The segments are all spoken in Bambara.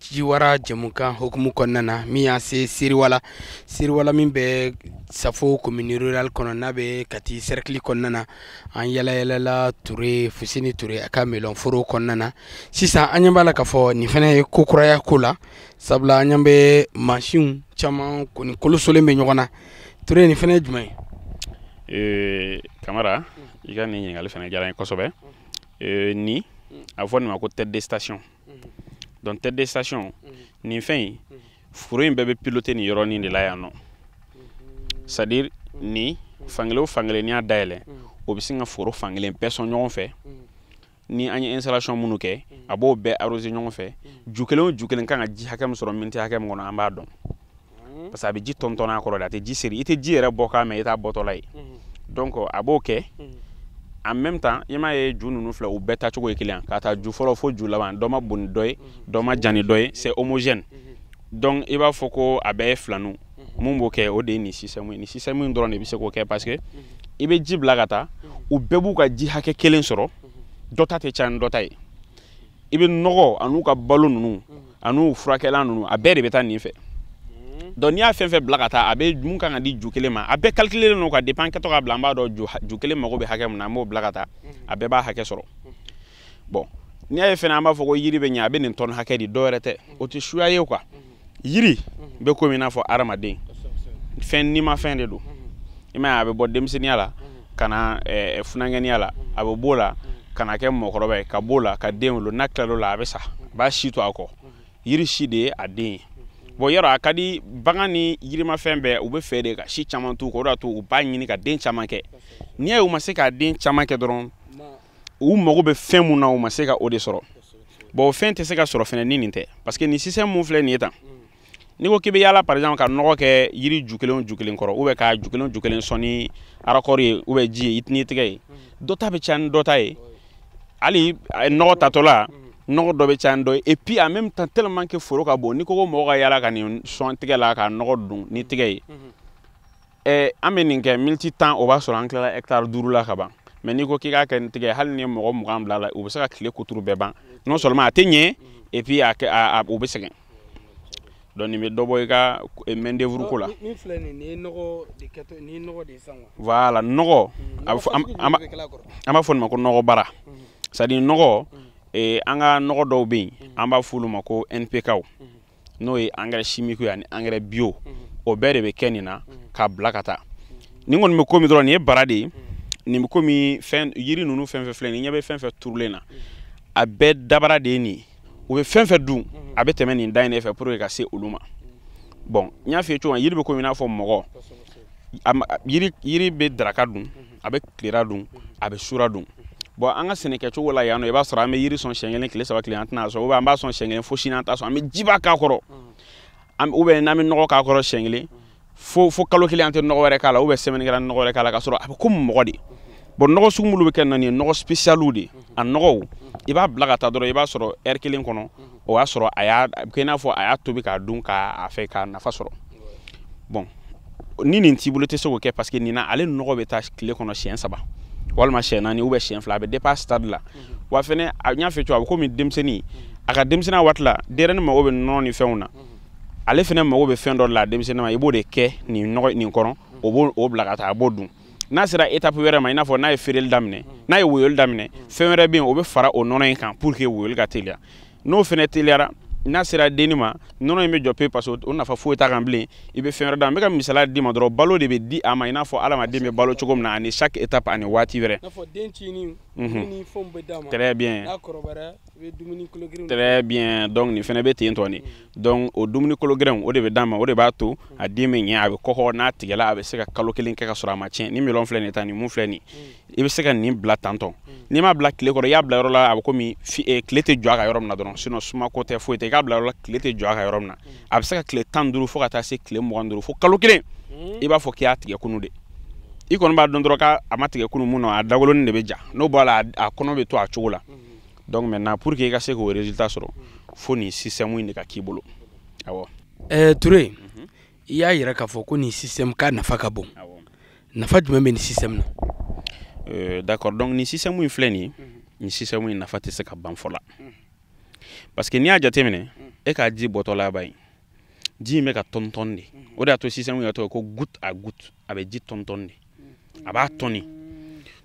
ciwara jɛmukan hukumu kɔnɔna na min y'an se seriwala seriwala min bɛ safo commune rurale kɔnɔ n'a bɛ kati cercle kɔnɔna na an yalayalala ture fuseni ture a ka melɔnforo kɔnɔna na sisan an ɲɛ b'a la k'a fɔ nin fana ye ko kuraya ko la sabula an ɲɛ bɛ mansinw caman kɔni kolosolen bɛ ɲɔgɔn na ture nin fana ye jumɛn ye kamara i ka nin ɲininkali fana diyara n ye kosɛbɛ nin a bɛ fɔ nin ma ko tête de station donc tête de station nin fɛn in foro in bɛɛ bɛ piloter nin yɔrɔnin de la yan nɔ c'est à dire nin fankelen o fankelen n'i y'a dayɛlɛ o bɛ sin ka foro fankelen bɛɛ sɔn ɲɔgɔn fɛ ni an ye installation minnu kɛ a b'o bɛɛ arroser ɲɔgɔn fɛ ju kelen o ju kelen kan ka ji hakɛ min sɔrɔ miniti hakɛ min kɔnɔ an b'a dɔn mhm. parce que a bɛ ji tɔntɔn a kɔrɔ de a tɛ ji seri i tɛ ji yɛrɛ bɔkan mɛn i t'a bɔtɔla ye mhm. donc a b'o kɛ mhm. en même temps i m'a ye ju ninnu filɛ u bɛɛ taacogo ye kelen k'a ta ju fɔlɔ fo ju laban dɔ man bon ni dɔ ye dɔ man jan ni dɔ ye c'est homogène donc i b'a fɔ ko a bɛɛ ye filaniw mun b'o kɛ o de ye nin sisɛmu ye nin sisɛmu in dɔrɔn de bɛ se k'o kɛ parce que i bɛ ji bila ka taa u bɛɛ b'u ka ji hakɛ kelen sɔrɔ dɔ ta tɛ caya ni dɔ ta ye i bɛ nɔgɔ an'u ka balo ninnu an'u furakɛlan ninnu a bɛɛ de bɛ taa nin fɛ hmm. donc n'i y'a fɛn fɛn bila ka taa hakɛ min kan ka di ju kelen ma a bɛɛ calculelen don ka dépend kɛtɔ k'a bila an b'a dɔn ju kelen mago bɛ hakɛ min na an b'o bila ka taa hmm. a bɛɛ b'a hakɛ sɔrɔ hmm. bon n'i y'a ye fɛnɛ an b'a fɔ ko yiri bɛ ɲɛ a bɛ nin tɔni hakɛ di dɔwɛrɛ tɛ o tɛ suya ye quoi yiri bɛ komi i n'a fɔ hadamaden fɛn nimafɛn de don i m'a ye a bɛ bɔ denmisɛnninya la ka na eh, eh, funankɛniya la a bɛ b'o la ka na kɛ mɔgɔkɔrɔba ye ka b'o la ka den wolo n'a tilal'o la a bɛ sa a b'a si to a kɔ yiri si de ye a den ye bon yɔrɔ a ka di bagan ni yirimafɛn bɛɛ u bɛ fɛ de ka si caman t'u kɔ o de y'a to u b'a ɲini ka den caman kɛ n'i y'a ye u ma se ka den caman kɛ dɔrɔn u mago bɛ fɛn mun na u ma se ka o de sɔrɔ bon o fɛn tɛ se ka sɔrɔ fɛnɛ ni nin tɛ parce que nin sisɛmu filɛ nin ye tan n'i ko k'i bɛ yaala par exemple ka nɔgɔ kɛ yiri ju kelen o ju kelen kɔrɔ ou bien ka ju kelen o ju kelen sɔn ni arakɔri ye ou bien ji ye n'i tɛgɛ ye dɔ ta bɛ caya ni dɔ ta ye hali nɔgɔ tatɔla nɔgɔ dɔ bɛ caya ni dɔ ye et puis en même temps tellement que foro ka bon n'i ko ko mɔgɔ ka yaala ka nin sɔn tɛgɛ la ka nɔgɔ don ni tɛgɛ ye ɛɛ an bɛ nin kɛ miniti tan o b'a sɔrɔ an tilala hectare duuru la ka ban mais n'i ko k'i k'a kɛ ni tɛgɛ hali n'i ye mɔgɔ mugan bil'a la u bɛ se ka tile kuturu bɛɛ ban non seulement a tɛ ɲɛ et puis a, a, a u bɛ sɛgɛn donc nin bɛ dɔ bɔ i ka main d'œuvre ko la. min filɛ nin ye nɔgɔ de kɛtɔ ni nɔgɔ de ye sisan quoi. voilà nɔgɔ. Mm, a bɛ fɔ an an b'a fɔ nin ma ko nɔgɔ bara. Mm. c'est à dire nɔgɔ mm. eh, an ka nɔgɔ dɔw bɛ yen an b'a f'olu ma ko NPK w n'o ye engrais chimique ye ani engrais bio o bɛɛ de bɛ kɛ nin na k'a bila ka taa nin kɔni bɛ komi dɔrɔn nin ye bara de ye nin bɛ komi fɛn yiri ninnu fɛn fɛn filɛ n'i ɲɛ bɛ fɛn fɛn turulen na a bɛɛ dabara de ye nin ye. u bɛ fɛn fɛn dun a bɛ tɛmɛ nin da in de fɛ pour que ka se olu ma bon n y'a f'i ye cogo min yiri bɛ komi i n'a fɔ mɔgɔ yiri bɛ daraka dun a bɛ tilera dun a bɛ sura dun bon an ka sɛnɛkɛcogo la yan nɔ i b'a sɔrɔ an bɛ yiri sɔn siɲɛ kelen tile saba tile an tɛna sɔn ou bien an b'a sɔn siɲɛ kelen fo sini an t'a sɔn an bɛ jiba k'a kɔrɔ ou bien n'an bɛ nɔgɔ k'a kɔrɔ siɲɛ kelen fo kalo kelen an tɛ nɔgɔ wɛrɛ k'a la ou bien semaine kelen an tɛ nɔgɔ wɛrɛ k'a la k'a sɔrɔ a bɛ komi mɔgɔ de bon nɔgɔ sugu minnu bɛ kɛ nin ye nɔgɔ spécial de a nɔgɔw i b'a bila ka taa dɔrɔn i b'a sɔrɔ heure kelen kɔnɔ o y'a sɔrɔ a y'a kɛ i n'a fɔ a y'a tobi k'a dun k'a fɛ k'a nafa sɔrɔ bon ni nin t'i bolo i tɛ se k'o kɛ parce que nin na ale nɔgɔ bɛ taa tile kɔnɔ siɲɛ saba walima siɲɛ naani ou bien siɲɛ fila a bɛ dépend stade la wa fɛnɛ n y'a fɔ cogo a bɛ komi denmisɛnnin a ka denmisɛnninya waati la denyɛrɛnin mago bɛ nɔnɔ ni fɛnw na ale fɛnɛ mago bɛ fɛn dɔ la denmisɛnnin ma i b'o de kɛ nin nɔgɔ nin kɔnɔ o b'o bila ka taa a b'o dun n'a sera étape wɛrɛ ma i n'a fɔ n'a ye feereli daminɛ n'a ye woyoli daminɛ fɛn wɛrɛ bɛ yen o bɛ fara o nɔnɔ in kan pour que woyoli ka teliya n'o fɛnɛ teliyara n'a sera denni ma nɔnɔ in bɛ jɔ pe parce que o nafa foyi t'a kan bilen i bɛ fɛn wɛrɛ d'a ma n bɛ ka misaliya d'i ma dɔrɔn balo de bɛ di a ma i n'a fɔ adamaden bɛ balo cogo min na ani chaque étape ani waati wɛrɛ très bien très bien donc nin fɛnɛ bɛ ten dɔrɔn de donc o dumuni kologɛlɛnw o de bɛ d'a ma o de b'a to a den bɛ ɲɛ a bɛ kɔgɔ n'a tigɛla a bɛ se ka kalo kelen kɛ ka sɔrɔ a ma tiɲɛ nin melon filɛ nin ye tan nin min filɛ nin ye i bɛ se ka nin bila tantɔ n'i m'a bila tile kɔrɔ i y'a bila yɔrɔ la a bɛ komi tile tɛ jɔ a kan yɔrɔ min na dɔrɔn sinon sumako tɛ foyi tɛ i k'a bila yɔrɔ la tile tɛ jɔ a kan yɔrɔ min na a bɛ se ka tile tan ni duuru fo ka taa se tile mugan ni duuru fo kalo kelen i b'a fɔ k'i y'a tigɛ kunu de i kɔni b'a dɔn dɔrɔn k'a ma tigɛ kunu mun na a dagolonin de bɛ ja n'o b'a la a kɔnɔ bɛ to a cogo la donc maintenant pour que i ka se k'o résultat sɔrɔ fo nin système in de ka k'i bolo awɔ eh, Toure mhm. i y'a yira k'a fɔ ko nin système ka nafa ka bon nafa jumɛn bɛ nin système na euh, d'accord donc nin système in filɛ nin ye mhm. nin système in nafa tɛ se ka ban fɔ la mhm. parce que n'i y'a jateminɛ e k'a ji bɔtɔla ba ye ji in bɛ ka tɔntɔn de o de y'a to système in yɛrɛ tɔgɔ ko goutte à goutte a bɛ ji tɔntɔn de a b'a tɔni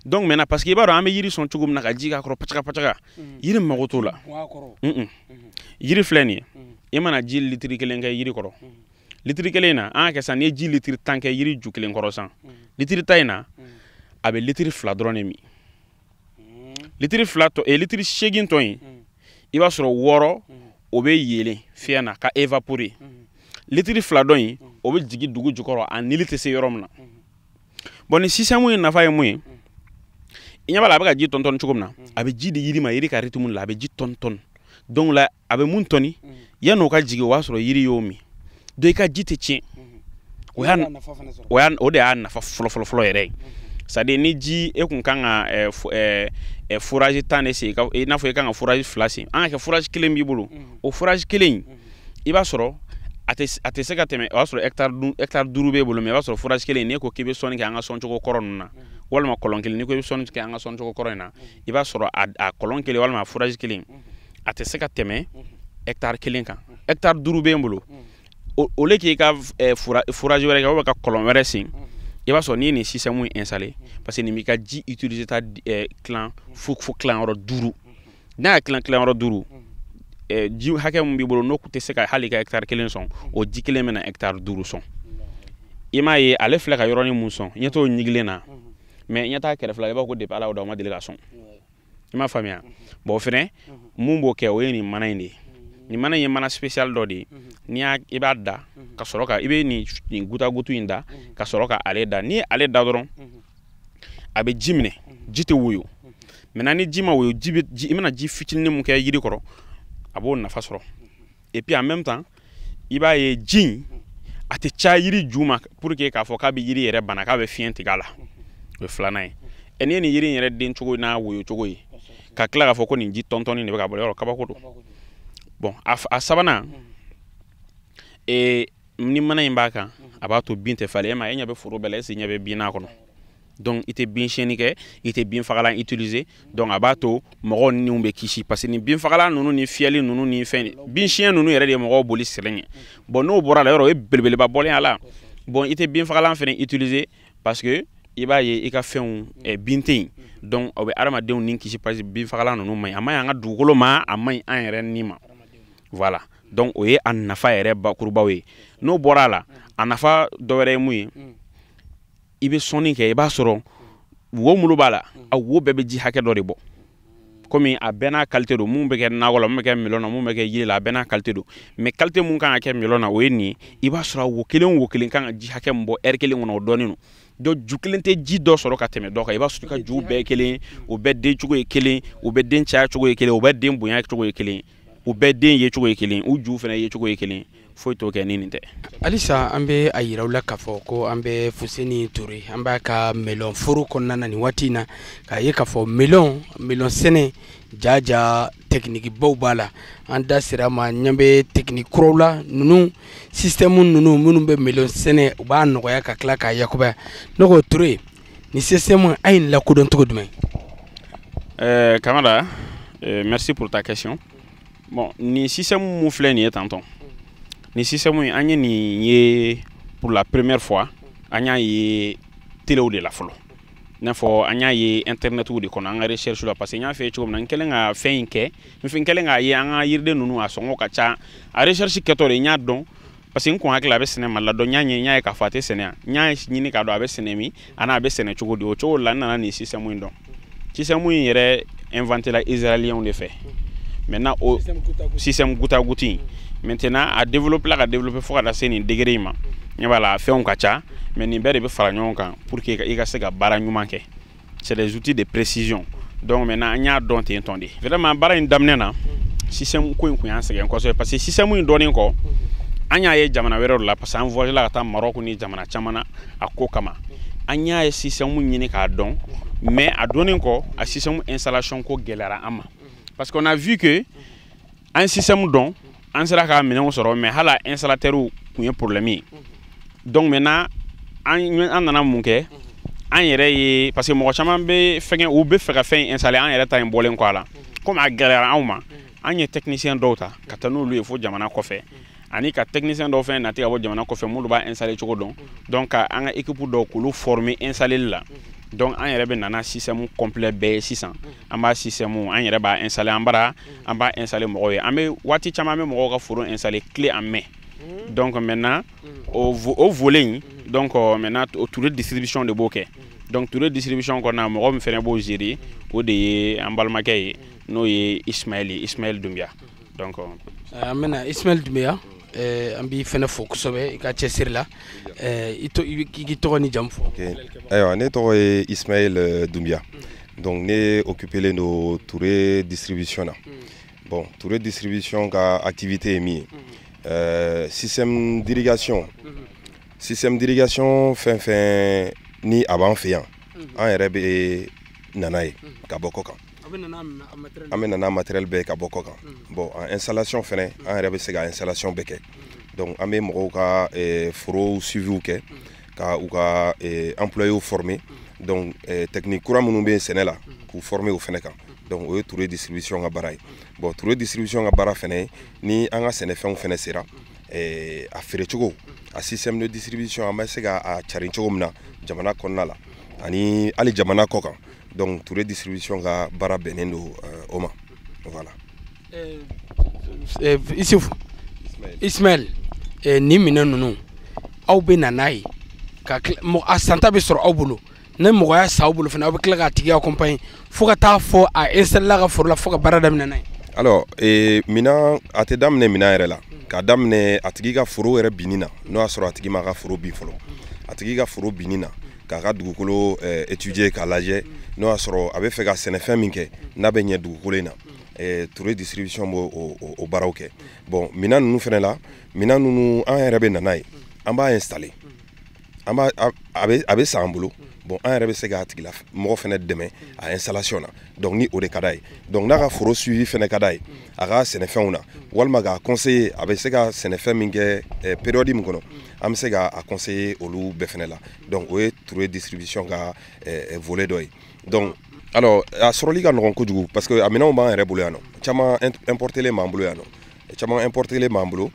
donc maintenant parce que i b'a dɔn an bɛ yiri sɔn cogo min na ka ji k'a kɔrɔ pacaga pacaga mm. yiri mago t'o la mm-hmm. yiri filɛ nin ye mm. i mana ji litiri kelen kɛ yiri kɔrɔ mm. litiri kelen in na an k'a kɛ sisan n'i ye ji litiri tan kɛ yiri ju kelen kɔrɔ sisan litiri tan in na a bɛ litiri fila dɔrɔn de min litiri fila tɔ e litiri seegin tɔ in i b'a sɔrɔ wɔɔrɔ o bɛ yɛlɛn fiɲɛ na ka évaporer litiri fila dɔ in o bɛ jigin dugu jukɔrɔ a nili tɛ se yɔrɔ min na bon nin système in nafa ye mun ye i ɲɛ b'a la a bɛ ka ji tɔntɔn cogo min na a bɛ ji di yiri ma yiri ka rythme la a bɛ ji tɔntɔn donc la a bɛ mun tɔni yanni o ka jigin o b'a sɔrɔ yiri y'o min donc i ka ji tɛ tiɲɛ o y'a o y'a o de y'a nafa fɔlɔfɔlɔfɔlɔ yɛrɛ ye sadi ni ji e kun kan ka eh, eh, eh, foraji tan de sen i n'a fɔ i kan ka foraji fila sen an ka kɛ foraji kelen b'i bolo o foraji kelen in i b'a sɔrɔ a tɛ se ka tɛmɛ o y'a sɔrɔ hɛkitari duuru b'e bolo mɛ i b'a sɔrɔ foraji kelen in n'e ko k'i bɛ sɔnni kɛ an ka sɔncogo kɔrɔ ninnu na walima kɔlɔn kelen n'i ko i bɛ sɔnni kɛ an ka sɔncogo kɔrɔ in na i b'a sɔrɔ a kɔlɔn kelen walima a foraji kelen a tɛ se ka tɛmɛ hɛkitari kelen kan hɛkitari duuru b'e bolo au lieu k'i ka foraji wɛrɛ kɛ walima ka kɔlɔn wɛrɛ sen i b'a sɔrɔ n'i ye nin sisitɛmu in installé parce que nin b'i ka ji utiliser ta tilan fo fo tilanyɔrɔ duuru n'a y'a tilan tilanyɔrɔ duuru ji hakɛ min b'i bolo n'o tɛ se ka hali ka hɛkitari kelen sɔn o ji kelen bɛna hɛkitari duuru sɔn i m'a ye ale filɛ ka yɔrɔnin mun sɔn ɲɛ t'o ɲigilen na mɛ i ɲɛ t'a kɛrɛfɛla i b'a ko depi ala y'o da o ma deli ka sɔn i m'a faamuya bɔn fɛnɛ mun b'o kɛ o ye nin mana in de ye nin mana in ye mana spécial dɔ de ye n'i y'a i b'a da ka sɔrɔ ka i bɛ nin nin gutagutu in da ka sɔrɔ ka ale da n'i ye ale da dɔrɔn a bɛ ji minɛ ji tɛ woyo maintenant ni ji ma woyo ji bɛ ji i mana ji fitinin mun kɛ yiri kɔrɔ a b'o nafa sɔrɔ et puis en même temps i b'a ye ji in a tɛ caya yiri ju ma pour que k'a fɔ k'a bɛ yiri yɛrɛ bana k'a bɛ fiɲɛ tigɛ a la o ye filanan ye ɛ n'i ye nin yiri in yɛrɛ den cogo n'a woyo cogo ye ka tila k'a fɔ ko nin ji tɔntɔnni de bɛ ka bɔ yɔrɔ kabako don bɔn a sabanan ee ni mana in b'a kan a b'a to bin tɛ falen e ma e ɲɛ bɛ foro bɛɛ la est-ce i ɲɛ bɛ bin n'a kɔnɔ donc i tɛ bin siyɛnni kɛ i tɛ bin fagalan utiliser donc a b'a to mɔgɔw niw bɛ kisi parce que ni bin fagalan ninnu ni fiyɛli ninnu ni fɛn bin siyɛn ninnu yɛrɛ de ye mɔgɔw boli sɛnɛ ɲɛ bon n'o bɔra a la yɔrɔ o ye belebeleba bɔlen a la bon i tɛ bin fagalan fana utiliser parce que i b'a ye i ka fɛnw eh, bin tɛ yen donc o bɛ adamadenw ni kisi parce que bin fagalan ninnu man ɲi a man ɲi an ka dugukolo ma a man ɲi an yɛrɛ ni ma voilà donc o ye a nafa yɛrɛ bakurubaw ye n'o bɔra a la a nafa dɔ wɛrɛ ye mun ye i bɛ sɔnni kɛ i b'a sɔrɔ wo mulu b'a la a wo bɛɛ bɛ ji hakɛ dɔ de bɔ komi a bɛɛ n'a kalite don mun bɛ kɛ nakɔ la mun bɛ kɛ milɔn na mun bɛ kɛ yiri la a bɛɛ n'a kalite don mɛ kalite mun kan ka kɛ milɔn na o ye nin ye i b'a sɔrɔ wo kelen wo kelen kan ka ji hakɛ min bɔ ɛri kelen kɔnɔ o dɔnnen don donc ju kelen tɛ ji dɔ sɔrɔ ka tɛmɛ dɔ kan i b'a sɔrɔ i ka juw bɛɛ ye kelen o bɛɛ den cogo ye kelen o bɛɛ den caya cogo ye kelen o bɛɛ den bonya cogo ye kelen o bɛɛ den ye cogo ye kelen u ju fana ye cogo ye kelen foyi t'o kɛ ni nin tɛ halisa an bɛ a yira aw la k'a fɔ ko an bɛ fuseni ture an b'a ka melɔn foro kɔnɔna na nin waati in na k'a ye k'a fɔ melɔn melɔn sɛnɛ jaja tɛkinikibaw b'a la an da sera a ma ɲɛ bɛ tɛkiniki kuraw la ninnu sisitɛmu ninnu minnu bɛ melɔn sɛnɛ u b'a nɔgɔya ka tila k'a yakubaya ne ko ture nin sisitɛmu a ye nin lakodɔn cogo jumɛn kamara merci pour ta question bon nin système min filɛ nin ye tantɔn nin système in an ye nin ye pour la première fois an y'a ye telew de la fɔlɔ i n'a fɔ an y'a ye internetiw de kɔnɔ an ka recherche la parce que n y'a f'i ye cogo min na n kɛlen ka fɛn in kɛ n kɛlen k'a ye an ka yiriden ninnu a sɔngɔ ka ca a recherche kɛtɔ de n y'a dɔn parce que n kun hakili a bɛ sɛnɛ Mali la donc n y'a ɲɛ n y'a ye k'a fɔ a tɛ sɛnɛ yan n y'a ɲini k'a dɔn a bɛ sɛnɛ min ani a bɛ sɛnɛ cogo di o cogo la n nana nin système in dɔn système in yɛrɛ inventé la israélienw de fɛ maintenant o système goutte à goutte in maintenant a développé la ka développé fo ka taa se nin degré in ma ɲɛ b'a la fɛnw ka ca mais nin bɛɛ de bɛ fara ɲɔgɔn kan pour que i ka se ka baara ɲuman kɛ c'est des outils de précision donc maintenant an y'a dɔn ten tɔn de vraiment baara in daminɛ na système ko in kun y'an sɛgɛn kosɛbɛ parce que système in dɔnnen kɔ an y'a ye jamana wɛrɛw la parce que an voyagé la ka taa Maroc ni jamana caman na a ko kama an y'a ye système ɲini k'a dɔn mais a dɔnnen kɔ a système installation ko gɛlɛyara an ma parce qu'on a vu que an système dɔn an sera ka minɛnw sɔrɔ mais hala installateurw kun ye problème ye donc maintenant an nana mun kɛ an yɛrɛ ye parce que mɔgɔ caman bɛ fɛngɛ u bɛ fɛ ka fɛn in installer an yɛrɛ ta in bɔlen kɔ a la comme a gɛlɛyara anw ma an ye technicien dɔw ta ka taa n'olu ye fo jamana kɔfɛ ani ka technicien dɔw fɛnɛ nati ka bɔ jamana kɔfɛ minnu b'a installer cogo dɔn donc ka an ka équipe dɔw k'olu former installeli la donc an yɛrɛ bɛ na n'a système complet bɛɛ ye sisan an b'a système an yɛrɛ b'a installer an bara an b'a installer mɔgɔw ye an bɛ waati caman an bɛ mɔgɔw ka foro installer clé en main donc maintenant o o volet in donc euh, maintenant o Touré distribution de b'o kɛ donc Touré distribution kɔnɔna mɔgɔ min fɛnɛ b'o gérer o de ye an balimakɛ ye n'o ye Ismaël ye Ismaël Doumbia donc eh, an bɛna Ismaël Doumbia eh, an b'i fɛnɛ fo kosɛbɛ i ka cɛsiri la eh, i k'i tɔgɔ ni jamu fɔ ayiwa ne tɔgɔ ye Ismaël Doumbia donc ne occupélen don Touré distribution na hmm. bon Touré distribution ka activité ye min ye hmm. système d'irrigation hmm. système d'irrigation fɛn fɛn ni a b'an fɛ yan an yɛrɛ bɛ na n'a ye ka bɔ kɔ kan an bɛ na n'a matériel bɛɛ ye ka bɔ kɔ kan mm. bon an installation fɛnɛ mm. an yɛrɛ bɛ se ka installation bɛɛ kɛ mm. donc an bɛ mɔgɔw ka eh, forow suiviw kɛ ka u ka eh, employéw former donc eh, technique kura minnu bɛ sɛnɛ la k'u former o fɛnɛ kan donc o ye Touré distribution ka baara ye bon Touré distribution ka baara fɛnɛ ni an ka sɛnɛfɛnw fɛnɛ sera a feere cogo a système de distribution an bɛ se ka a carin cogo min na jamana kɔnɔna la ani hali jamana kɔ kan donc ture distribution ka baara bɛnnen don euh, o ma voilà euh, euh, isufu ismaɛl nin minɛn ninnu aw bɛ na n'a ye ka a santa bɛ sɔrɔ aw bolo ni mɔgɔ y'a san aw bolo fana aw bɛ tila k'a tigi accompagner fo ka taa fo a installer a ka foro la fo ka baara daminɛ n'a ye alors minɛn a tɛ daminɛ minɛn yɛrɛ la k'a daminɛ a tigi ka foro yɛrɛ binni na n'o y'a sɔrɔ a tigi m'a ka foro bin fɔlɔ a tigi ka foro binni na k'a ka dugukolo eh, étudier k'a lajɛ n'o y'a sɔrɔ a bɛ fɛ ka sɛnɛfɛn min kɛ n'a bɛ ɲɛ dugukolo in na eh, ture distribution b'o o, o, o baaraw kɛ bon minan ninnu fɛnɛ la minan ninnu an yɛrɛ bɛ na n'a ye an b'a installer an b'a a- a bɛ a bɛ san an bolo bon an yɛrɛ bɛ se k'a tigilamɔgɔ fɛnɛ dɛmɛ a installation na donc ni o de ka d'a ye donc n'a ka foro suivi fɛnɛ ka d'a ye a ka sɛnɛfɛnw na walima k'a conseiller a bɛ se ka sɛnɛfɛn min kɛ eh, période min kɔnɔ an bɛ se ka a conseiller olu bɛɛ fɛnɛ la donc o ye ture distribution ka eh, volet dɔ ye donc alors a sɔrɔli ka nɔgɔn kojugu parce que a minɛnw b'an yɛrɛ bolo yan nɔ caman importelen b'an bolo yan nɔ caman importelen b'an bolo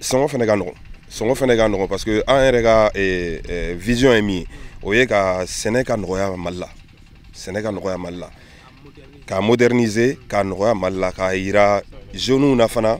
sɔngɔ fɛnɛ ka nɔgɔn sɔngɔ fɛnɛ ka nɔgɔn parce que an yɛrɛ ka eh, eh, vision ye min ye o ye ka sɛnɛ ka nɔgɔya mali la sɛnɛ ka nɔgɔya mali la k'a moderniser k'a nɔgɔya mali la k'a yira jeunes na fana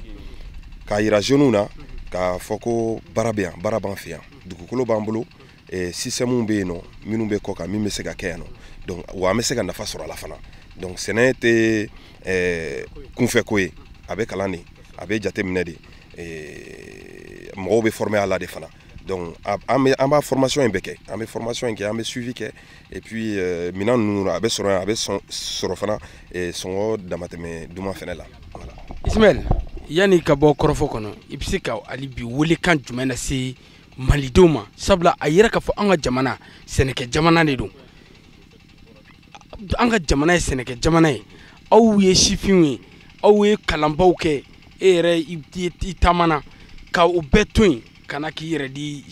k'a yira jeunes na k'a fɔ ko baara bɛ yan baara b'an fɛ yan dugukolo b'an bolo eh, système bɛ yen nɔ minnu bɛ kɔkan min bɛ se ka kɛ yan nɔ donc wa an bɛ se ka nafa sɔrɔ a la fana donc sɛnɛ tɛ eh, kunfɛ ko ye a bɛ kalan de a bɛ jateminɛ de eh, mɔgɔw bɛ former a la de fana donc an bɛ an b'a formation in bɛɛ kɛ an bɛ formation in kɛ an bɛ suivi kɛ et puis euh, minɛn ninnu a bɛ sɔrɔ yan a bɛ sɔn sɔrɔ fana eh, sɔngɔ damatɛmɛ duman fɛnɛ la voilà. Ismaël yanni ka bɔ kɔrɔfɔ kɔnɔ i bɛ se ka hali bi welekan jumɛn lase malidenw ma sabula a yɛrɛ k'a fɔ an ka jamana sɛnɛkɛ jamana de don an ka jamana ye sɛnɛkɛ jamana ye aw ye sifinw ye aw ye kalanbaw kɛ e yɛrɛ i taamana ka o bɛɛ to yen ka na k'i yɛrɛ di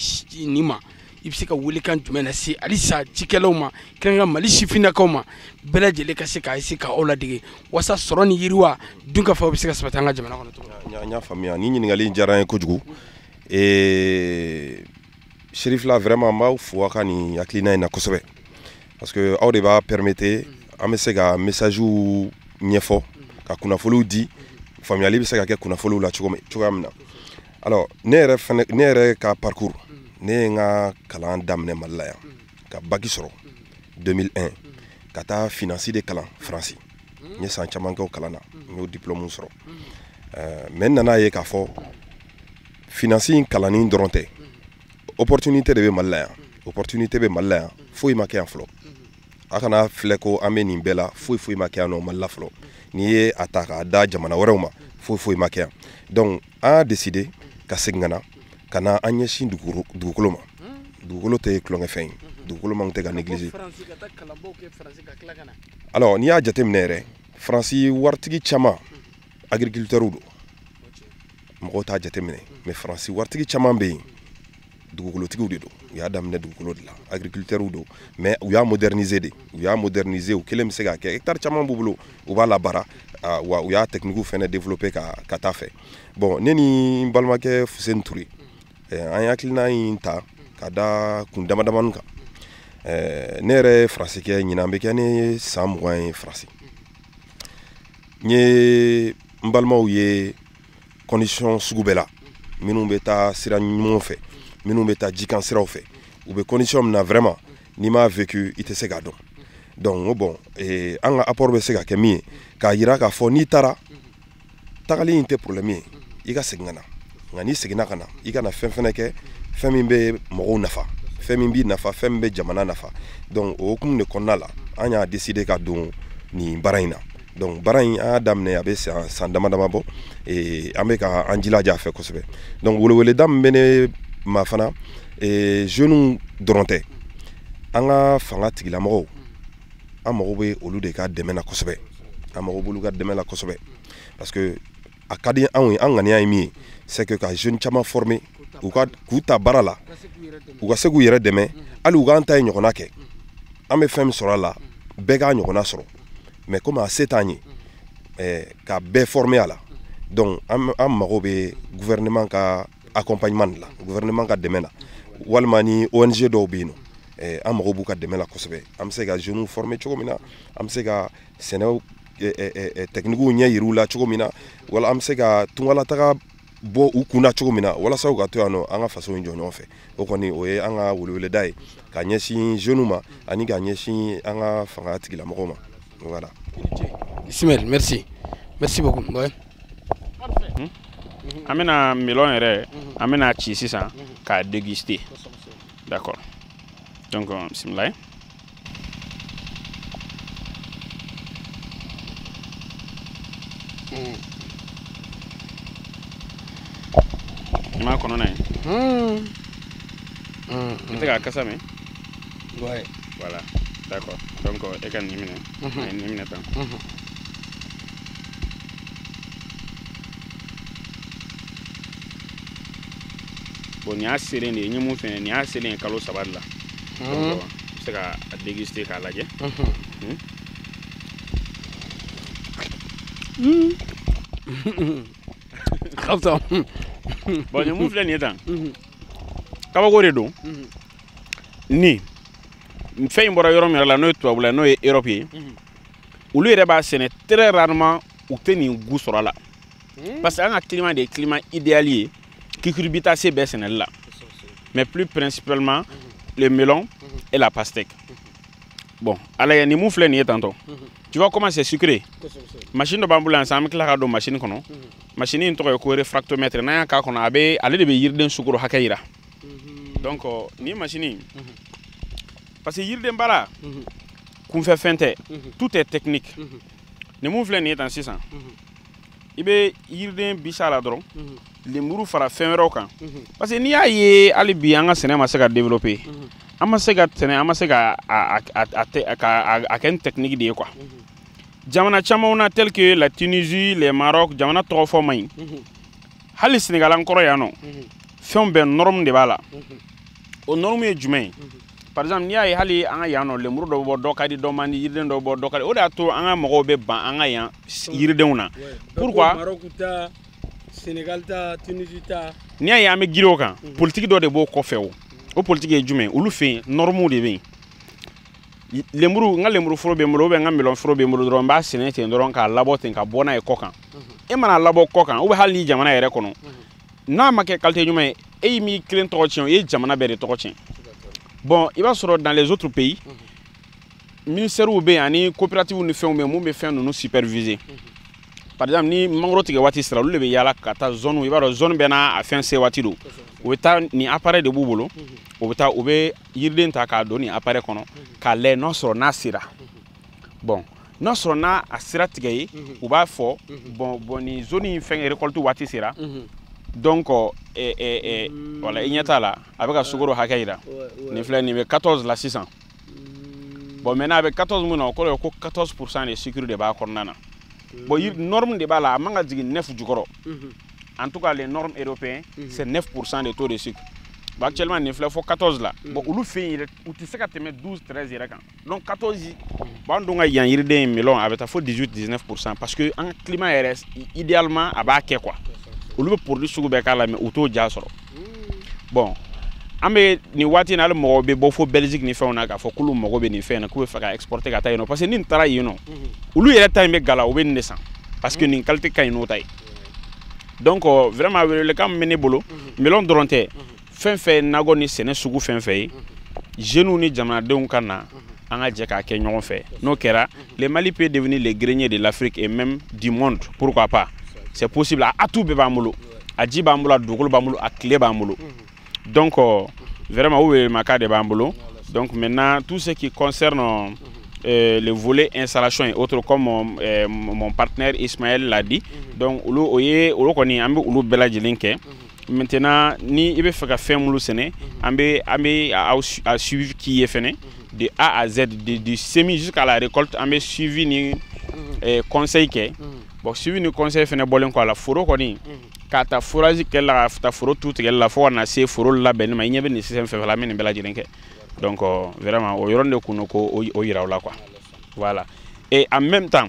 nin ma i bɛ se ka welekan jumɛn lase halisa cikɛlaw ma kɛrɛnkɛrɛn mali sifinnakaw ma bɛɛ lajɛlen ka se k'a se ka aw ladege walasa sɔrɔ ni yiriwa dunkafa bɛ se ka sabati an ka jamana kɔnɔ cogo min na. N y'a faamuya nin ɲininkali in diyara n ye kojugu. Ee serifila vraiment n b'aw fo aw ka nin hakilina in na kosɛbɛ parce que aw de b'a permettre an bɛ se ka messagew ɲɛfɔ ka kunnafoliw di faamuyali bɛ se ka kɛ kunnafoliw la cogo cogoya min na alors ne yɛrɛ fɛnɛ ne yɛrɛ ka parcours ne ye n ka kalan daminɛ mali la yan ka bac sɔrɔ 2001 ka taa finance de kalan faransi n ye san caman kɛ o kalan na n y'o diplôme sɔrɔ mais n nan'a ye k'a fɔ finance in kalanni dɔrɔn tɛ opportunité de bɛ mali la yan opportunité bɛ mali la yan foyi ma kɛ yan fɔlɔ a kana filɛ ko an bɛ nin bɛɛ la foyi foyi ma kɛ yan nɔ mali la fɔlɔ n'i ye a ta k'a da jamana wɛrɛw ma foyi foyi ma kɛ yan donc an y'a décider ka segin ka na ka na an ɲɛsin dugukolo dugukolo ma dugukolo tɛ tulonkɛfɛn ye dugukolo man kan ka négliger alors n'i y'a jateminɛ yɛrɛ faransi waritigi caman agriculteurs don mɔgɔw t'a jateminɛ mais faransi waritigi caman bɛ yen dugukolotigiw de don u y'a daminɛ dugukolo de la agriculteurs don mais u y'a moderniser de u y'a moderniser u kelen bɛ se k'a kɛ hectare caman b'u bolo u b'a labaara wa u y'a techniques fana développer ka taa fɛ bon ne ni n balimakɛ fuseni ture an ye hakilina in ta ka da kun damadamanin kan ne yɛrɛ ye faransi kɛ ɲinan bɛ kɛ ne san mugan ye faransi n ye n balimaw ye condition sugu bɛɛ la minnu bɛ taa sira ɲumanw fɛ minnu bɛ taa jikan siraw fɛ u bɛ condition min na vraiment n'i m'a vécu i tɛ se k'a dɔn donc n ko bon eh, an ka apport bɛ se ka kɛ min ye k'a yira k'a fɔ n'i taara tagali in tɛ problème ye i ka segin ka na nka n'i seginna ka na i ka na fɛn fɛnɛ kɛ fɛn min bɛ mɔgɔw nafa fɛn min b'i nafa fɛn min bɛ jamana nafa donc o hukumu de kɔnɔna la an y'a décider ka don nin baara in na donc baara in an y'a daminɛ a bɛ san san dama dama bɔ an bɛ ka an jilaja a fɛ kosɛbɛ donc weleweleda min bɛ ne ma fana jeunes dɔrɔn tɛ an ka fangatigilamɔgɔw an mago bɛ olu de ka dɛmɛ na kosɛbɛ an mago b'olu ka dɛmɛ la kosɛbɛ parce que a ka di anw ye an ŋaniya ye min ye c'est que ka jeunes caman former u ka k'u ta baara la u ka se k'u yɛrɛ dɛmɛ hali u k'an ta ye ɲɔgɔnna kɛ an bɛ fɛn min sɔrɔ a la bɛɛ k'a ɲɔgɔnna sɔrɔ mais komi a se t'an ye eh, ka bɛɛ former a la donc an an mago bɛ gouvernement ka accompagnement de la gouvernement ka dɛmɛ la walima ni ONG dɔw bɛ yen nɔ eh, an mago b'u ka dɛmɛ la kosɛbɛ an bɛ se ka jeunes former cogo min na an bɛ se ka sɛnɛw techniques ɲɛ yir'u la cogo min na wala an bɛ se ka tungalataga bɔ u kunna cogo min na walasa u ka to yan nɔ an ka faso in jɔ ɲɔgɔn fɛ o kɔni o ye an ka weleweleda ye ka ɲɛsin jeunes ma ani ka ɲɛsin an ka fangatigilamɔgɔw ma voilà. Ismaël merci merci beaucoup. Ouais. Hmm? an bɛna melon yɛrɛ an bɛna ci sisan k'a déguster d'accord donc bisimila. I m'a kɔnɔna ye i tɛ k'a kasa mɛn voilà d'accord donc e ka nin minɛ a ye nin minɛ tan bon nin y'a selen de ye n ye mun fɛnɛ nin y'a selen ye kalo saba de la Mm. se ka a déguster k'a lajɛ ka fisa bon nin mun filɛ nin ye tan kabako de don ni fɛn in bɔra yɔrɔ min yɛrɛ la n'o ye tubabula n'o ye Europe ye olu yɛrɛ b'a sɛnɛ très rarement u tɛ nin goût sɔrɔ a la hmm. parce que an ka climat de ye climat idéal ye cucurbitacées bɛɛ sɛnɛli la mais plus principalement hmm. le melon hmm. et la pastèque bon a lajɛ nin mun filɛ nin ye tantɔ tu vois comment c'est sucré machine dɔ b'an bolo yan sisan an bɛ tila k'a don machine kɔnɔ machine in tɔgɔ ye ko réfractomètre n'an y'a k'a kɔnɔ a bɛ ale de bɛ yiriden sukoro hakɛ yira donc euh, nin machine in parce que yiriden baara kunfɛ fɛn tɛ tout est technique nin mun filɛ nin ye tan sisan i bɛ yiriden bisi a la dɔrɔn mhm. lemuru fara fɛn wɛrɛw kan mhm. parce que n'i y'a ye hali bi an ka sɛnɛ ma se ka développer mhm. an ma se ka sɛnɛ an ma se ka a kɛ ni technique de ye quoi jamana camanw na tel que la Tunisie le Maroc jamana tɔgɔ fɔ man ɲi hali Sénégal an kɔrɔ yan nɔ fɛnw bɛɛ norme de b'a la o norme ye jumɛn ye par exemple n'i y'a ye hali an ka yan nɔ lemuru dɔ bɛ bɔ dɔ ka di dɔ man di yiriden dɔ bɛ bɔ dɔ ka di o de y'a to an ka mɔgɔw bɛ ban an ka yan yiridenw na pourquoi Sénégal ta Tunisie ta n'i y'a ye an bɛ girin o kan politiki dɔ de b'o kɔfɛ o o politiki ye jumɛn olu fɛ yen normes de bɛ yen lemuru n ka lemuru foro bɛ n bolo ou bien n ka melon foro bɛ n bolo dɔrɔn n b'a sɛnɛ ten dɔrɔn k'a labɔ ten ka bɔ n'a ye kɔ kan e man'a labɔ kɔ kan ou bien hali ni jamana yɛrɛ kɔnɔ n'a ma kɛ qualité ɲuman ye e y'i m'i kelen tɔgɔ tiɲɛ i ye jamana bɛɛ de tɔgɔ tiɲɛ bon i b'a sɔrɔ dans les autres pays ministɛriw bɛ yen ani coopératives ni fɛnw bɛ yen mun bɛ fɛn ninnu superviser par exemple ni mangoro tigɛ waati sera olu de bɛ yaala ka taa zone i b'a dɔn zone bɛɛ n'a a fɛn se waati don u bɛ taa nin appareil de b'u bolo u bɛ taa u bɛ yiriden ta k'a don nin appareil kɔnɔ k'a lajɛ n'a sɔrɔ n'a sera bon n'a sɔrɔ n'a sera tigɛ ye mhm. u b'a fɔ mhm. bon bon nin zone in fɛn récolte waati sera mhm. donc eh, eh, eh, mm. voilà i ɲɛ t'a la a bɛ ka sukoro hakɛ yira nin filɛ nin bɛ 14 la sisan mm. bon maintenant a bɛ 14 mun na o kɔrɔ ye ko 14 pourcent de sucre de b'a kɔnɔna na mm. bon norme de b'a la a man ka jigin 9 jukɔrɔ en tout cas les normes européens c'est 9 pourcent de taux de sucre bon actuellement nin filɛ fo 14 la bon olu fɛ yen yɛrɛ u tɛ se ka tɛmɛ 12 13 yɛrɛ kan donc 14 bon an dun ka yan yiriden ye melon a bɛ taa fo 18 19 pourcent parce que an ka climat yɛrɛ idéalement a b'a kɛ quoi olu bɛ produit sugu bɛɛ k'a la mais u t'o diya sɔrɔ bon an bɛ nin waati in na hali mɔgɔw bɛ bɔ fo belgique ni fɛnw na k'a fɔ k'olu mago bɛ nin fɛn na k'u bɛ fɛ ka exporter ka taa yen nɔ parce que ni nin taara yen nɔ olu yɛrɛ ta in bɛ gala u bɛ nin de san parce que nin qualité ka ɲi n'o ta ye donc vraiment welewelekan min bɛ ne bolo melon dɔrɔn tɛ fɛn fɛn ye nakɔ ni sɛnɛ sugu fɛn fɛn ye jeunes ni jamanadenw ka na an ka jɛ k'a kɛ ɲɔgɔn fɛ n'o kɛra le mali peut devenir le grenier de l'afrique et même du monde pourquoi pas c'est possible a atout bɛɛ b'an bolo a ji b'an bolo a dugukolo b'an bolo a tile b'an bolo donc vraiment o welewelekan de b'an bolo donc maintenant tout ce qui concerne euh, euh, le volet installation et autres comme euh, mon partenaire Ismaël l'a dit donc olu o ye olu kɔni an bɛ olu bɛɛ lajɛlen kɛ maintenant ni i bɛ fɛ ka fɛn minnu sɛnɛ an bɛ an bɛ a suivi k'i ye fɛnɛ de A à Z de du semis jusqu'à la récolte an bɛ suivi ni eh, conseil kɛ bon suivi ni conseil fɛnɛ bɔlen kɔ a la foro kɔni k'a ta forage kɛli la k'a ta foro tu tigɛli la fo ka na se foro labɛnni ma i ɲɛ bɛ nin système fɛn fɛn la an bɛ nin bɛɛ lajɛlen kɛ donc vraiment o yɔrɔnin de kun don k'o yira aw la quoi voilà et en même temps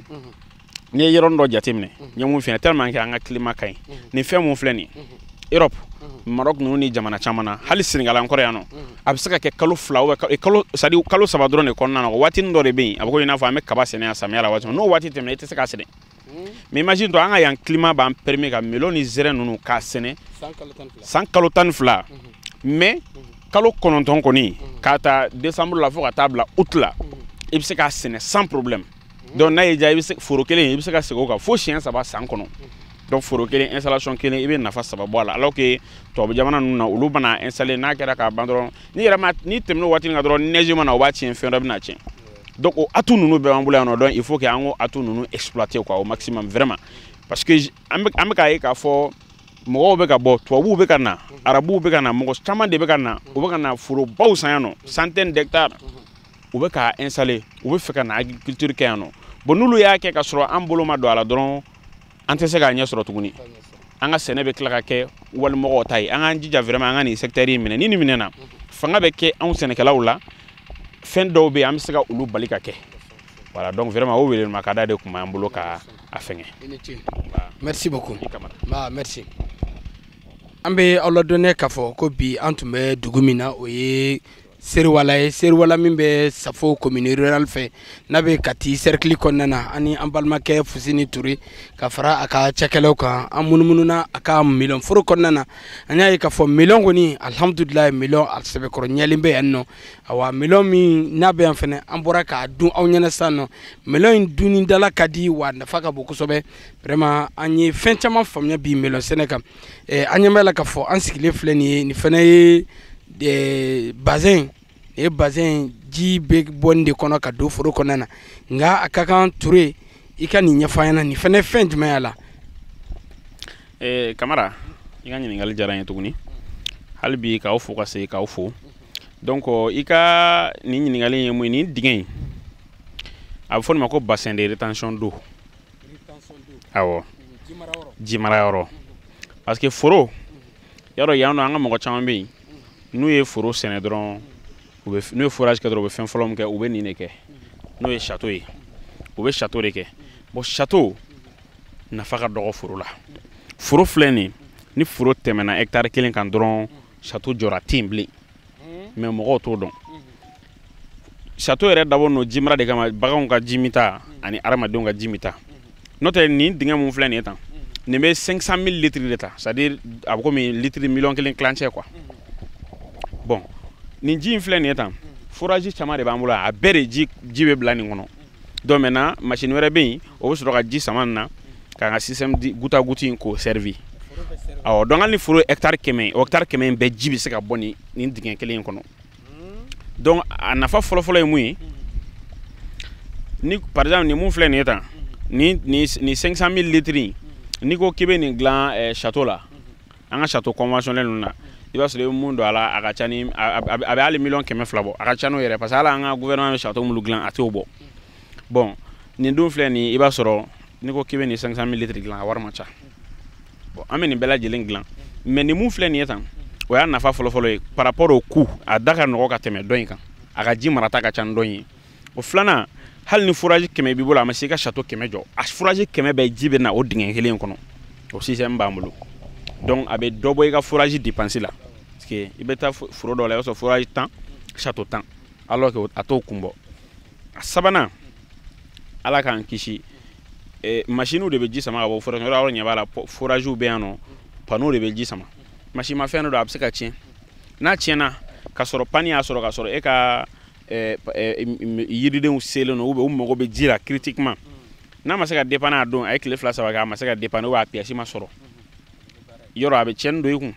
n'i ye yɔrɔnin dɔ jateminɛ n ye mun f'i ye tellement que an ka climat ka ɲi nin fɛn mun filɛ nin Europe Maroc ninnu ni jamana caman na hali Sénégal an kɔrɔ yan nɔ a bɛ se ka kɛ kalo fila ou bien kalo c'est à dire kalo saba dɔrɔn de kɔnɔna na waatinin dɔ de bɛ yen a bɛ komi i n'a fɔ an bɛ kaba sɛnɛ yan samiya la waati min n'o waati tɛmɛna i tɛ se k'a sɛnɛ mais imagine toi an ka yan climat b'an permet ka melon ni zɛrɛn ninnu k'a sɛnɛ san kalo tan ni fila mais kalo kɔnɔntɔn kɔni k'a ta décembre la fo ka taa bila août la i bɛ se k'a sɛnɛ sans problème donc n'a y'i diya i bɛ se foro kelen i bɛ se ka segin o kan fo siɲɛ saba san kɔnɔ donc foro kelen installation kelen i bɛ nafa saba bɔ a la alors que tubabu jamana ninnu na olu bɛna installer n'a kɛra k'a ban dɔrɔn n'i yɛrɛ ma n'i tɛmɛna o waati nin kan dɔrɔn neige mana o b'a tiɲɛ fɛn dɔ bɛna tiɲɛ donc o atout ninnu bɛɛ b'an bolo yan nɔ donc il faut que an k'o atout ninnu exploiter quoi au maximum vraiment parce que an bɛ an bɛ k'a ye k'a fɔ mɔgɔw bɛ ka bɔ tubabuw bɛ ka na arabuw bɛ ka na mɔgɔ caman de bɛ ka na u bɛ ka na forobaw san yan nɔ centaine d'hectares u bɛ k'a installer u bɛ fɛ ka na agriculture kɛ yan nɔ bon n'olu y'a kɛ ka sɔrɔ an bolo ma don a la dɔrɔn an tɛ se k'a ɲɛ sɔrɔ tuguni an ka sɛnɛ bɛ tila ka kɛ walimɔgɔw ta ye an k'an jija vraiment an ka nin secteur in minɛ ni nin minɛna fanga bɛ kɛ anw sɛnɛkɛlaw la fɛn dɔw bɛ yen an bɛ se ka olu bali ka kɛ voilà donc vraiment o weelema ka da de tun b'an bolo ka a fɛngɛ merci beaucoup ba merci an bɛ aw ladɔnniya k'a fɔ ko bi an tun bɛ dugu min na o ye Seriwala ye seriwala min bɛ safo komini rurale fɛ n'a bɛ Kati serikili kɔnɔna na ani an balimakɛ fuseni ture ka fara a ka cakɛlaw kan an munumununa a ka melon foro kɔnɔna na an y'a ye k'a fɔ melon kɔni alihamdulilayi melon a sɛbɛkɔrɔ ɲɛlen bɛ yan nɔ awa melon min n'a bɛ yan fana an bɔra k'a dun aw ɲɛna sisan nɔ melon in dun da la ka di wa nafa ka bon kosɛbɛ vraiment an ye fɛn caman faamuya bi melon sɛnɛ kan Eh, an ɲɛ b'a la k'a fɔ an sigilen filɛ nin ye nin fana ye eh, bassin ye bassin ji bɛ bɔ nin de kɔnɔ ka don foro kɔnɔna na nka a ka kan ture i ka nin ɲɛfɔ an ɲɛna nin fana ye fɛn jumɛn y'a la eh, kamara i ka ɲininkali diyara n ye tuguni hali bi k'aw fo ka segin k'aw fo donc i ka nin ɲininkali ye mun ye nin dingɛ in a bɛ fɔ nin ma ko bassin de rétention d'eau awɔ ji mara yɔrɔ parce que foro y'a dɔn yan nɔ an ka mɔgɔ caman bɛ yen n'u ye foro sɛnɛ dɔrɔn n'u ye forage kɛ dɔrɔn u bɛ fɛn fɔlɔ min kɛ u bɛ nin de kɛ n'o ye château ye u bɛ château de kɛ bon château nafa ka dɔgɔ foro la foro filɛ nin ni foro tɛmɛna hectare kelen kan dɔrɔn château jɔra tɛ yen bilen mais mɔgɔw t'o dɔn château yɛrɛ dabɔ nɔ jimara de kama baganw ka ji minta ani adamadenw ka ji minta n'o tɛ nin dingɛ mun filɛ nin ye tan nin bɛ 500 000 litres de ta c'est à dire a bɛ komi litiri miliyɔn kelen tilancɛ quoi bon nin ji in filɛ nin ye tan forage caman de b'an bolo a bɛɛ de ji bɛ bila nin kɔnɔ donc maintenant machine wɛrɛ bɛ yen o bɛ sɔrɔ ka ji sama nin na k'an ka système de goutte à goutte in k'o servi awɔ donc hali ni foro hectare kɛmɛ o hectare kɛmɛ in bɛɛ ji bɛ se ka bɔ nin nin dingɛ kelen in kɔnɔ donc a nafa fɔlɔfɔlɔ ye mun ye ni par exemple nin mun filɛ nin ye tan ni ni ni 500 000 litres in n'i ko k'i bɛ nin dilan eh, château la an ka château conventionnel ninnu na i b'a sɔrɔ i bɛ mun don a la a ka ca ni a bɛ hali miliyɔn kɛmɛ fila bɔ a ka ca n'o yɛrɛ parce que hali an ka gouvernement bɛ château minnu dilan a t'o bɔ bon nin dun filɛ nin i b'a sɔrɔ n'i ko k'i bɛ nin cinq cent mille litres dilan a wari man ca bon an bɛ nin bɛɛ lajɛlen dilan mais nin mun filɛ nin ye tan o y'a nafa fɔlɔfɔlɔ ye par rapport au coût a da ka nɔgɔ ka tɛmɛ dɔ in kan a ka ji marata ka ca ni dɔ in ye o filanan hali ni forage kɛmɛ b'i bolo a ma se i ka château kɛmɛ jɔ a forage kɛmɛ bɛɛ ji bɛ na o dingɛ kelen kɔnɔ o système b'an bolo donc a bɛ dɔ bɔ i ka forage dépense la parce que i bɛ taa foro dɔ la i b'a sɔrɔ forage tan château tan alors que a t'o kun bɔ a sabanan ala k'an kisi eh, masiniw de bɛ ji sama ka bɔ forage yɔrɔ yɔrɔ ɲɛ b'a la foragew bɛ yan nɔ panneau de bɛ ji sama masinimafɛn dɔ don a bɛ se ka tiɲɛ n'a tiɲɛna ka sɔrɔ panne y'a sɔrɔ ka sɔrɔ e ka eh, eh, yiridenw selen don ou bien u mago bɛ ji la critiquement n'a ma se ka dépanner a don a ye tile fila saba kɛ a ma se ka dépanner ou bien a pièce ma sɔrɔ yɔrɔ a bɛ tiɲɛni don i kun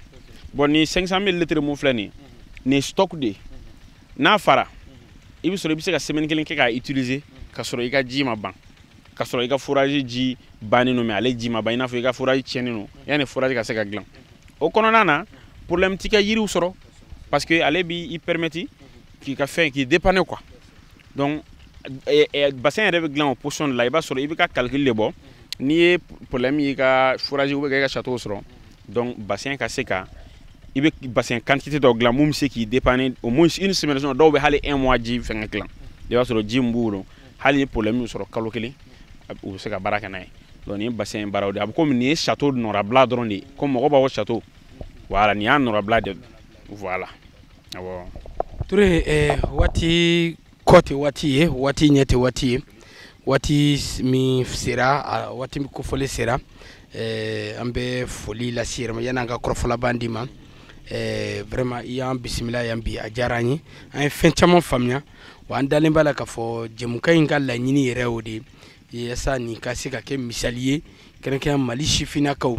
bon ni 500 mille litres mun filɛ nin nin stock de n'a fara i bɛ sɔrɔ i bɛ se ka semaine kelen kɛ k'a utiliser ka sɔrɔ i ka ji ma ban ka sɔrɔ i ka forage ji bannen don mais ale ji ma ban i n'a fɔ i ka forage tiɲɛnen don yanni forage ka se ka dilan o kɔnɔna na problème ti kɛ yiriw sɔrɔ parce que ale b'i permettre k'i ka fɛn k'i dépanner quoi donc eh, eh, bassin yɛrɛ bɛ dilan o position de la i b'a sɔrɔ i bɛ ka calcul de bɔ n'i ye problème y'i ka forage ou k'i ka château sɔrɔ donc bassin ka se ka i bɛ bassin quantité dɔ dilan mun bɛ se k'i dépanner au moins une semaine dɔw bɛ hali un mois ji fɛngɛ dilan i b'a sɔrɔ ji min b'u bolo hali ni problème y'u sɔrɔ kalo kelen u bɛ se ka baara kɛ n'a ye donc nin ye bassin baaraw de ye a bɛ komi nin ye château nɔrabila dɔrɔn de ye comme mɔgɔ b'a fɔ château voilà nin y'a nɔrabila de ye Voilà. Ah bon. Touré, eh, waati kɔ tɛ waati ye waati ɲɛ tɛ waati ye waati min sera a waati min kofɔli sera eh, an bɛ foli lase i yɛrɛ ma yanni an ka kɔrɔfɔ laban d'i ma eh, vraiment i y'an bisimila yan bi a diyara an ye an ye fɛn caman faamuya wa an dalen b'a la k'a fɔ jɛmukan in ka laɲini yɛrɛ o de ye yasa nin ka se ka kɛ misali ye kɛrɛnkɛrɛn mali sifinnakaw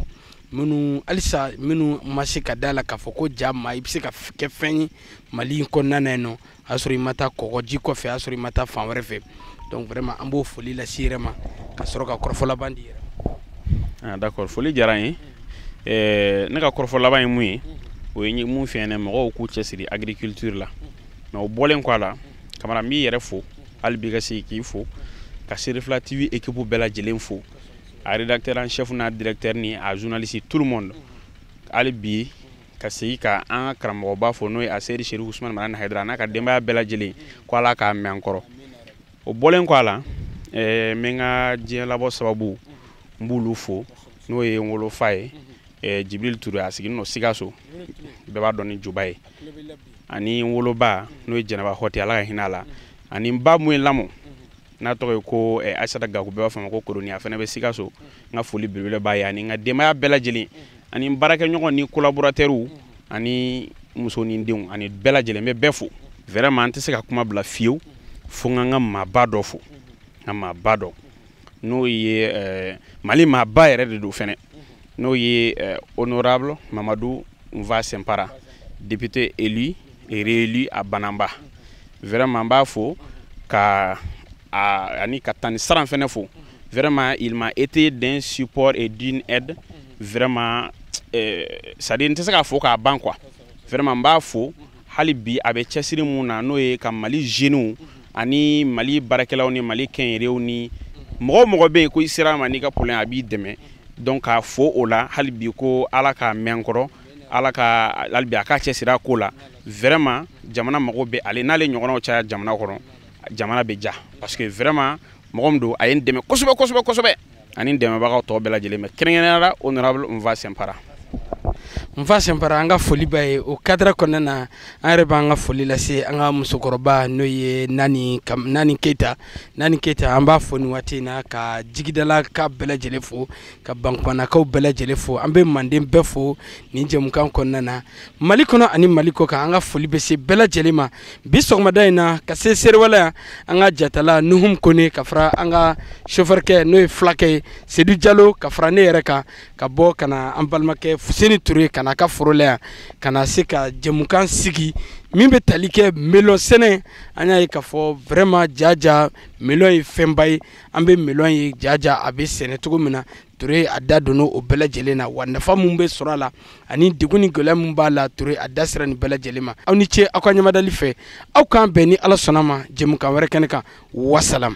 minnu halisa minnu ma se ka da la k'a fɔ ko ja ma i bɛ se ka kɛ fɛn ye mali in kɔnɔna na yen nɔ a sɔrɔ i ma taa kɔgɔji kɔfɛ a sɔrɔ i ma taa fan wɛrɛ fɛ donc vraiment an b'o foli lase i yɛrɛ ma ka sɔrɔ ka kɔrɔfɔ laban d'i yɛrɛ ma d'accord foli diyara n ye eh, ne ka kɔrɔfɔ laban ye mun ye o ye mun filɛ nin mɔgɔw k'u cɛsiri agriculture la mais o bɔlen kɔ a la kamara n b'i yɛrɛ fo hali bi ka segin k'i fo ka serifila tv équipe bɛɛ lajɛlen fo a rédacteur en chef n'a directeur ni a journaliste tout le monde hali bi ka segin ka an ka karamɔgɔba fo n'o ye aseyidi serifu usumani madani hayidara n'a ka denbaya bɛɛ lajɛlen ko ala k'a mɛɛn an kɔrɔ o bɔlen kɔ a la eh, n bɛ n ka diɲɛ labɔ sababu n b'olu fo n'o ye n wolofa ye eh, jibril ture a sigilen don sikaso bɛɛ b'a dɔn ni juba ye ani n woloba n'o ye jɛnɛba hɔte ala ka hinɛ a la ani n ba mun ye n lamɔ n'a tɔgɔ ye ko eh, aisata gaku bɛɛ b'a fɔ a ma ko koroni a fana bɛ sikaso n ka foli belebele b'a ye ani n ka denbaya bɛɛ lajɛlen ani n baarakɛɲɔgɔn ni collaborateurs ani muso ni denw ani bɛɛ lajɛlen n bɛ bɛɛ fo vraiment n tɛ se ka kuma bila fiyewu fo n ka n ka maaba dɔ fo n ka maaba dɔ n'o ye eh, mali maaba yɛrɛ de don fɛnɛ n'o ye eh, honorable mamadu nfa sinpara député élu et réélu à bananba vraiment n b'a fo ka a, ani ka tanti saran fɛnɛ fo vraiment il m'a été d'un support et d'une aide vraiment eh, c'est-à-dire n tɛ se k'a fo k'a ban quoi vraiment n b'a fo hali bi a bɛ cɛsiri mun na n'o ye ka mali zeniw ani mali baarakɛlaw ni mali kɛnyɛrɛyew ni mɔgɔ o mɔgɔ bɛ yen ko i sera a ma n'i ka problème a b'i dɛmɛ donc k'a fo o la hali bi ko ala k'a mɛɛn an kɔrɔ ala ka hali bi a k'a cɛsiri a ko la vraiment jamana mago bɛ ale n'ale ɲɔgɔnnaw caya jamana kɔnɔ jamana bɛ diya parce que vraiment mɔgɔ min don a ye n dɛmɛ kosɛbɛ kosɛbɛ kosɛbɛ ani n dɛmɛbagaw tɔw bɛɛ lajɛlen mais kɛrɛnkɛrɛnya la honorable nfa sinpara nfa sinpara an ka foli b'a ye o kadira kɔnɔna na an yɛrɛ b'an ka foli lase an ka musokɔrɔba n'o ye nani nani keyita nani keyita an b'a fo nin waati in na ka jigidalakaw bɛɛ lajɛlen fo ka bankumanakaw bɛɛ lajɛlen fo an bɛ manden bɛɛ fo nin jɛmukan kɔnɔna na mali kɔnɔ ani mali kɔ kan an ka foli bɛ se bɛɛ lajɛlen ma bi sɔgɔmada in na ka se seriwala yan an ka jatala nuhum kone ka fara an ka sofɛrikɛ n'o ye fulakɛ ye sedu jalo ka fara ne yɛrɛ kan ka bɔ ka na an balimakɛ fuseni ture kan a ka foro la yan ka na se ka jɛmukan sigi min bɛ tali kɛ melɔn sɛnɛ an y'a ye k'a fɔ vraiment jaja melɔn ye fɛnba ye an bɛ melɔn ye jaja a bɛ sɛnɛ cogo min na Toure a da donna o bɛɛ lajɛlen na wa nafa min bɛ sɔrɔ a la ani degun ni gɛlɛya min b'a la Toure a da sera nin bɛɛ lajɛlen ma aw ni ce aw ka ɲamadali fɛ aw k'an bɛn ni ala sɔnna ma jɛmukan wɛrɛ kɛnɛ kan wasalam